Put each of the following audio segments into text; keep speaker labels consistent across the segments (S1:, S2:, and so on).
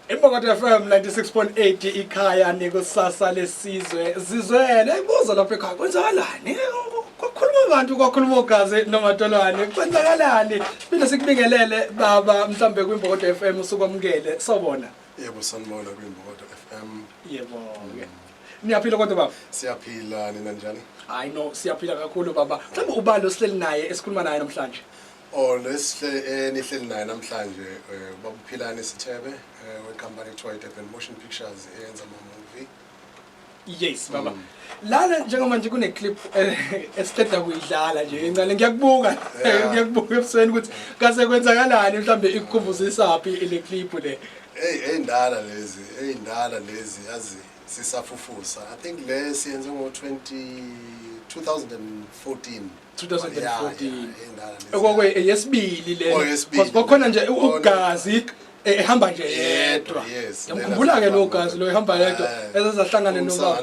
S1: Imbokodo FM 96.8 ikhaya nekusasa lesizwe zizwele ibuzo lapha ekhaya kwenzakalani kwakhuluma abantu kwakhuluma ogazi nomatolwane kwenzakalani siphinde sikubingelele baba mhlambe kwimbokodo FM usukwamukele sobona yebo sanibona
S2: kwimbokodo FM yebo
S1: niyaphila kodwa baba siyaphila nina
S2: njani hayi no siyaphila
S1: kakhulu baba mhlawumbe ubani osihleli naye esikhuluma naye namhlanje Oh lesihle
S2: enihleli naye namhlanje eh, ubaba uPhilani Sithebe eh, wenkampani ekuthiwa iDurban Motion Pictures eyenza ama movie.
S1: Yes baba. Mm. Lana njengoba nje kune clip eh, esiqeda kuyidlala nje encane ngiyakubuka Yeah. ngiyakubuka ebusweni ukuthi kase kwenzakalani mhlambe ikukhumbuzisa phi le clip le. Hey eyindala
S2: lezi, eyindala lezi yazi sisafufusa. I think le siyenze ngo 20 2014. 2014 okokwe
S1: eyesibili le oh, because kokhona nje oh, ugazi e, ehamba nje yedwa ngikhumbula ke lo gazi lo ehamba yedwa eh, ezazahlangane nobaba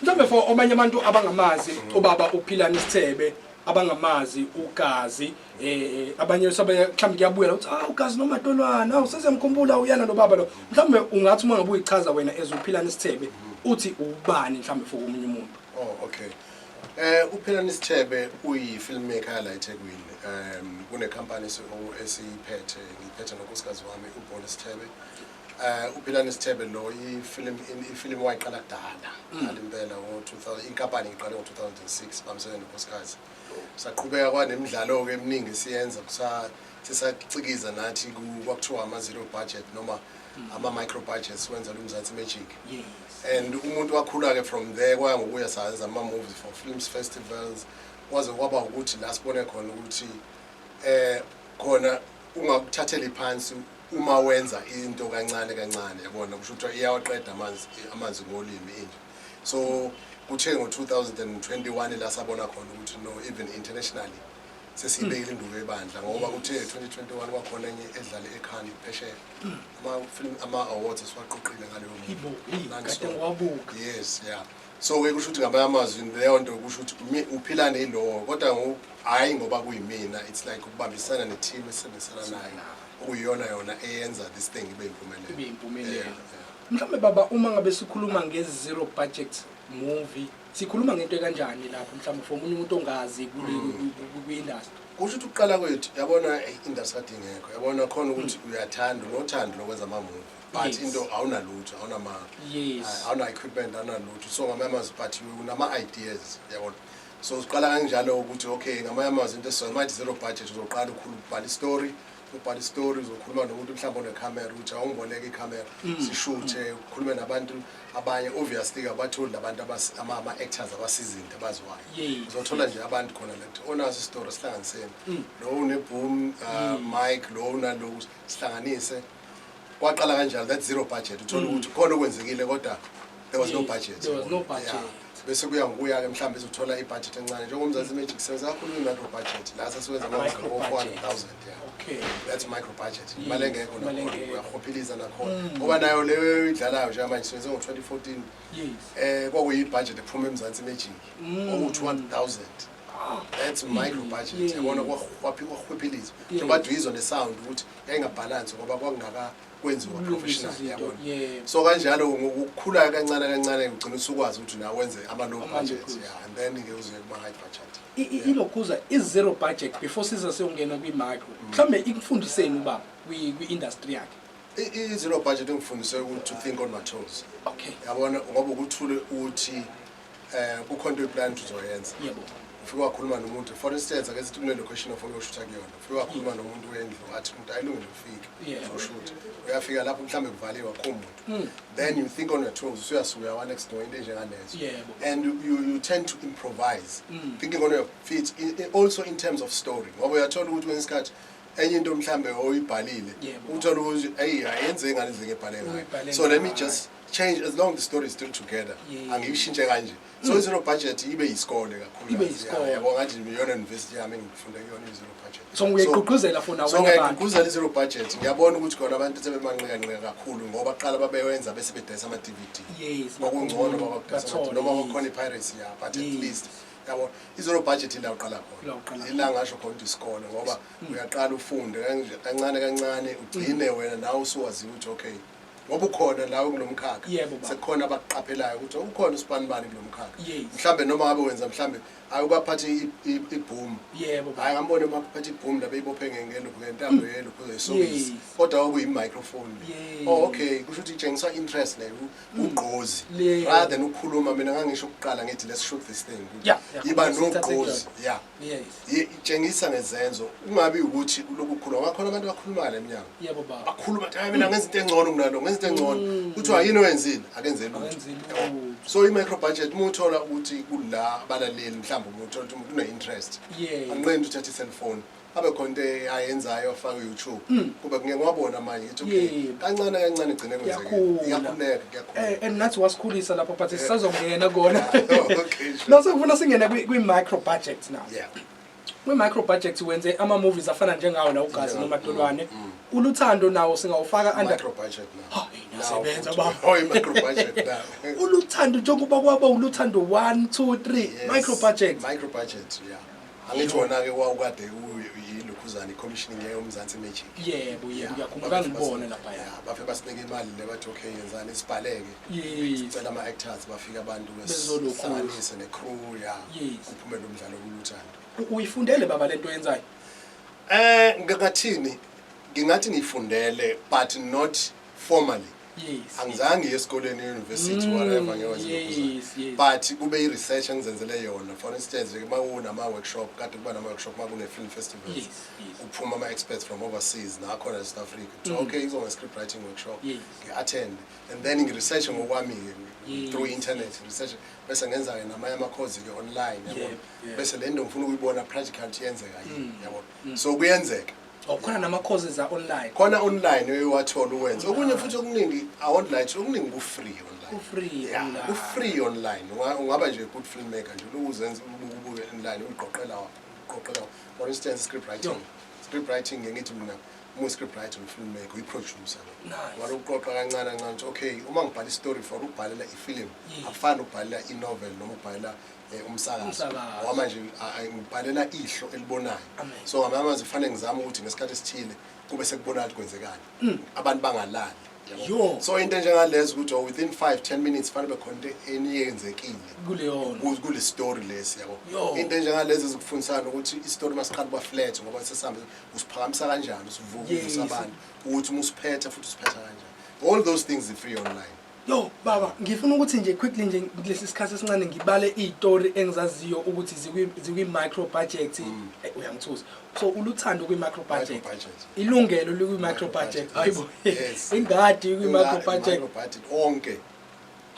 S1: mhlawumbe for omanye abantu abangamazi ubaba uphilani isithebe abangamazi ugazi eh abanye sabe mhlawumbe kuyabuya ukuthi ah ugazi noma ntolwana awu sezemkhumbula uyana lo baba lo mhlawumbe ungathi uma ngabe uyichaza wena ezophilana isithebe uthi ubani mhlawumbe for omunye umuntu oh okay
S2: eh uphilana isithebe uyi filmmaker la eThekwini um kune company esiyiphethe ngiphethe nokusikazi wami ubona isithebe eh uphilana isithebe lo i film i film wayiqala kudala mm. ngalimpela ngo 2000 inkampani iqale ngo 2006 bamsebenza nokusikazi Saqhubeka kwanemidlalo-ke eminingi siyenza sisacikiza nathi kwakuthiwa ama-zero budget noma mm. ama-micro budget siwenzela umzansi magic and umuntu wakhula-ke from there kwaya ngokuya sayenza ama-movies for films festivals kwaze kwaba ukuthi la sibone khona ukuthi um khona ungakuthatheli phansi uma wenza into kancane kancane yabona kusho kuthiwa iyawaqeda amanzi amanzi ngolimi inje so kuthe ngo-2021 la sabona khona ukuthi no even internationally sesiyibekile induku ebandla ngoba kuthe 2021 kwakhona enye edlale ekhani phesheya ama-film ama-awards esiwaqoqile ngaleyo mntu
S1: yes ya
S2: so-ke kusho ukuthi ngamanye amazwi leyo nto kusho ukuthi uphila neyilowo kodwa hhayi ngoba kuyimina it's like ukubambisana ne-team esisebenzisana nayo okuyiyona yona eyenza this thing ibe yimpumelelo Mhlawumbe
S1: baba uma ngabe sikhuluma nge zero budget movie sikhuluma ngento ekanjani lapho mhlawumbe for umunye umuntu ongazi kwi-industry kusho ukuthi ukuqala
S2: kwethu yabona i-industry kade ingekho yabona khona ukuthi mm. uyathanda unothando lokwenza amamuvi but into awunalutho awunama-equipment awunalutho so ngamanye amazwi but unama-ideas yabona so siqala kanjalo ukuthi okay ngamanye amazwi into esizomathi zero budget uzoqala ukhulu ubhala istory ubhala istory uzokhuluma nomuntu mhlawumbe onekhamera ukuthi awungiboleke ikhamera mm. sishuthe ukhulume nabantu abanye obviously kabatholi nabantu ama-actors abasizinto abaziwayo uzothola nje abantu khona lento onaso isitori sihlanganiseni mm. lo uneboom uh, mm. mike lo unaloku sihlanganise kwaqala kanjalo that zero budget uthole ukuthi khona okwenzekile kodwa there was no budget there was no budget yeah bese kuya ngokuya ke mhlawumbe izothola ibudget encane njengomzansi magic senza kakhulu i-micro budget la sesiwenza ngo-400,000 okay that's
S1: micro
S2: budget imali engekho uyakhophiliza nakhona mm. ngoba nayo leyo idlalayo njengamanje siwenze ngo-2014 eh kwakuyi-budget ephuma emzansi magic mm. owu-200,000 that's micro budget yabona kwakhwaphilizwa njengoba duyizwa ne-sound ukuthi yayingabhalansi ngoba kwakungaka kwenziwa professional yabona so kanjalo ngokukhula kancane kancane ugcina usukwazi ukuthi nawe wenze ama low budget yeah and then ke uzoye kuma high budget ilokhuza i zero
S1: budget before siza seyongena kwi micro mm. mhlambe ikufundiseni ubaba kwi kwi industry yakhe i zero budget
S2: ngifundise ukuthi to think on my toes okay yabona
S1: ngoba ukuthule
S2: uthi eh kukhona into plan uzoyenza yebo ufike wakhuluma nomuntu for instance ake sithi kune location ofuna ukushutha kuyona ufike wakhuluma nomuntu wendlu athi umuntu ayilungile ufike uzoshutha uyafika lapho mhlawumbe kuvaliwe akho muntu hmm. then you think on your toes usuyasuka one next door into enjengalezo and you, you tend to improvise hmm. thinking on your feet also in terms of story ngoba uyathola ukuthi kwenye isikhathi enye into mhlambe oyibhalile uthola ukuthi ayi ayenze ngale ndlela ebhale ngayo so let me just change as long the story is still together Yeah. angiyishintshe kanje so mm. zero budget ibe yisikole kakhulu Ibe yisikole. yabo ngathi iyona university yami engifunda kuyona zero budget So uyayigqugquzela
S1: for nawo so abanye abantu? ngiyayigqugquzela i-zero
S2: budget ngiyabona ukuthi khona abantu sebemanqikanqika kakhulu ngoba kuqala babewenza bese bedayisa ama-dvd Yes, kwakungcono bakhulu, babadayisa bathole, ama-DVD noma yes. kwakukhona i-piracy ya but Yes. at least yabo i-zero budget ila uqala La uqala khona khona. Mm. ila ngasho khona ukuthi isikole ngoba uyaqala ufunde kanje- kancane kancane ugcine wena nawe usuwaziyo ukuthi okay ngoba ukhona nawe kulo mkhakha Yebo, baba. sekukhona abakuqaphelayo ukuthi ukhona usibanibani kulo mkhakha Yes. mhlawumbe noma ngabe wenza mhlawumbe ayi ubaphathe i- i- ibhomu Yebo, baba. hayi ngambone uma kuphethe ibhomu la beyibophe nge- ngeluphu ngentambo yeluphu zoyisokisi Yes. kodwa kwakuyi-microphone le Yes. oh okay kusho ukuthi itshengisa interest le u- ugqozi Le- rather than ukukhuluma mina ngangisho ukuqala ngithi let's shoot this thing Yeah, yeah. yiba Yes, thathe nogqozi kuyona. ya itshengisa ngezenzo kungabi ukuthi uloku khuluma bakhona abantu abakhulumayo le mnyango bakhuluma ukuthi hayi mina ngenza into engcono kunalo ngenza into engcono mm. kuthiwa yini owenzile akenze lutho so i-micro budget uma uthola ukuthi kula abalaleli mhlawumbe uma uthola ukuthi umuntu une-interest anqendi uthatha i-cellphone abe khona into ayenzayo afake u-youtube mm. kuba ngeke wabona manje ngithi okay kancane kancane igcine kwenzeke iyakhuleka Eh, and nathi wasikhulisa
S1: lapho but sisazongena kona no sekufuna singene kwi-micro budget now yeah. kwi-micro budget wenze ama-movies afana njengawo la ugazi nomadolwane mm, mm. uluthando nawo singawufaka
S2: uluthando njengoba
S1: kwaba uluthando one two three micro budget angithi
S2: wona-ke wawukade yilokhuzane i-commissioning yayomzansi magic yebo yebo ngiyakhumbula
S1: kangibone laphaya bafe basibeka imali
S2: le bathi okay yenzani sibhaleke sicela ama-actors bafike abantu besihlanganise ne-crew ya kuphume lo mdlalo kuluthando uyifundele baba le nto
S1: yenzayo um ngingathini
S2: ngingathi ngiyifundele but not formally Yes. Angizange yes. esikoleni university mm, whatever ngewenza yes, yes. but kube i research engizenzele yona for instance nje mawuna ama workshop kade kuba nama workshop makune film festivals yes, yes. uphuma ama experts from overseas na khona South Africa mm. so okay izonga script writing workshop yes. ngi attend and then ngi research ngokwami yes. through internet yes. research bese ngenza ke namanye ama course ke online yabo yeah, yeah. bese lento ngifuna ukuyibona practical yenzeka yini mm. yabo mm. so kuyenzeka
S1: Oh, khona nama-courses a-online khona online
S2: uyowathola uwenze okunye futhi okuningi a-online okuningi ku-free online ku-free Yeah, online. ku-free online Unga- ungaba nje good filmmaker nje ulokhu uzenza ubuke ubuke online uqoqela wa- uqoqela wa- for instance script writing script writing ngiye ngithi mina uma script writer umfilmmaker uyiproducer Nice. wale ukuqoqa kancane kancane ukuthi okay uma ngibhala istory for ukubhalela ifilimu Yes. akufani ukubhalela inovel noma ukubhalela eh, umsakazo Umsakazo. ngoba manje a- a- ngibhalela ihlo elibonayo Amen. so ngamanye amazwi kufanele ngizame ukuthi ngesikhathi esithile kube sekubonakala ukuthi kwenzekani abantu bangalali yabo. Yo. so into enjengalezo ukuthi oh, within 5 10 minutes fanele bekhona into eniyenzekile kuleyona ku- kule story lesi yabo Yo. into enjengalezi ezikufundisana ukuthi isitori masiqala kuba flat ngoba sesihambe usiphakamisa kanjani usivuka Yes. uvusa abantu ukuthi uma usiphethe futhi usiphetha kanjani all those things are free online Yo baba
S1: ngifuna ukuthi nje quickly nje kulesi sikhathi esincane ngibale izitori engizaziyo ukuthi zikwi zikwi micro budget mm. eh, uyangithuza so uluthando kwi micro budget ilungelo likwi micro budget hayibo ingadi kwi micro budget onke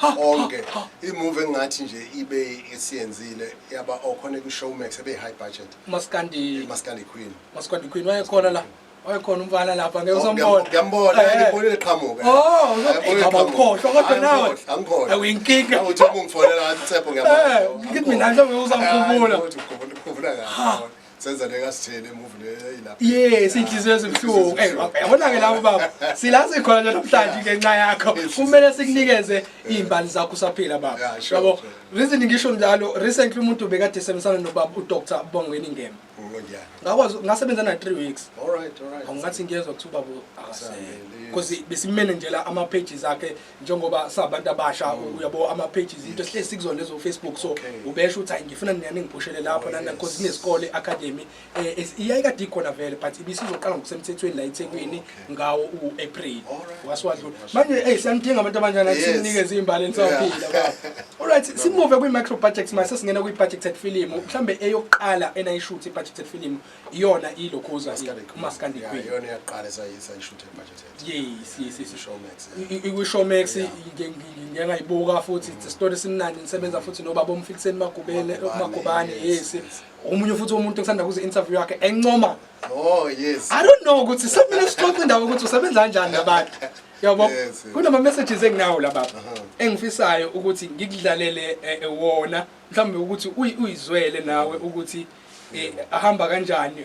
S2: onke imove engathi nje ibe isiyenzile yaba okhona ku Showmax ebe high budget Maskandi Maskandi Queen Maskandi Queen wayekhona la
S1: wayekhona umfana lapha ngeke usombona ngiyambona eh. ngibona
S2: iqhamuka oh ngiyabona
S1: ukhohlwa kodwa nawe angikhohlwa awinkinga
S2: uthi uma
S1: ungifonela ngathi
S2: utsepho ngiyabona eh, ngithi mina mhlawumbe
S1: uzangikhumbula uthi ukhumbula
S2: kahle senza le kasithele emuvi le ilapha yes inhliziyo
S1: ezibuhlungu eh yabona ke labo baba silazi khona nje namhlanje ngenxa yakho kumele sikunikeze izimbali zakho saphila baba yabo reason ngisho njalo recently umuntu bekade semsana nobaba uDr Bongweni Ngema ngakwazi ngasebenza na 3 weeks alright alright angathi
S2: ngiyezwa ukuthi
S1: ubaba akasele because besimene nje la ama pages akhe njengoba sabantu abasha mm. uyabo ama pages into sihle sikuzona lezo Facebook so ubesho ukuthi ngifuna niyane ngiphushele lapho nana because kunesikole academy eh, iyayikade ikhona vele but ibisizoqala ngokusemthethweni la eThekwini ngawo u-april wasiwadlula manje eyi siyanidinga abantu abanjani athi sinikeze iy'mbali enisaphila olright simuve kwi-micro budget ma sesingena kwi-budgeted film mhlawumbe eyokuqala enayishuthi i-budgeted film iyona ilokhuza
S2: umaskandikuyishowmax
S1: ngiyangayibuka futhi isitori simnandi nisebenza futhi nobaba omfikiseni magubane yes omunye futhi umuntu kusanda kuze interview yakhe encoma Oh yes. I don't know ukuthi sekumele sixoxe indaba ukuthi usebenza kanjani nabantu. Yabo. Kunama messages enginawo la baba. Uh-huh. Engifisayo ukuthi ngikudlalele eh, eh, wona mhlawumbe ukuthi uyizwele nawe ukuthi eh, ahamba kanjani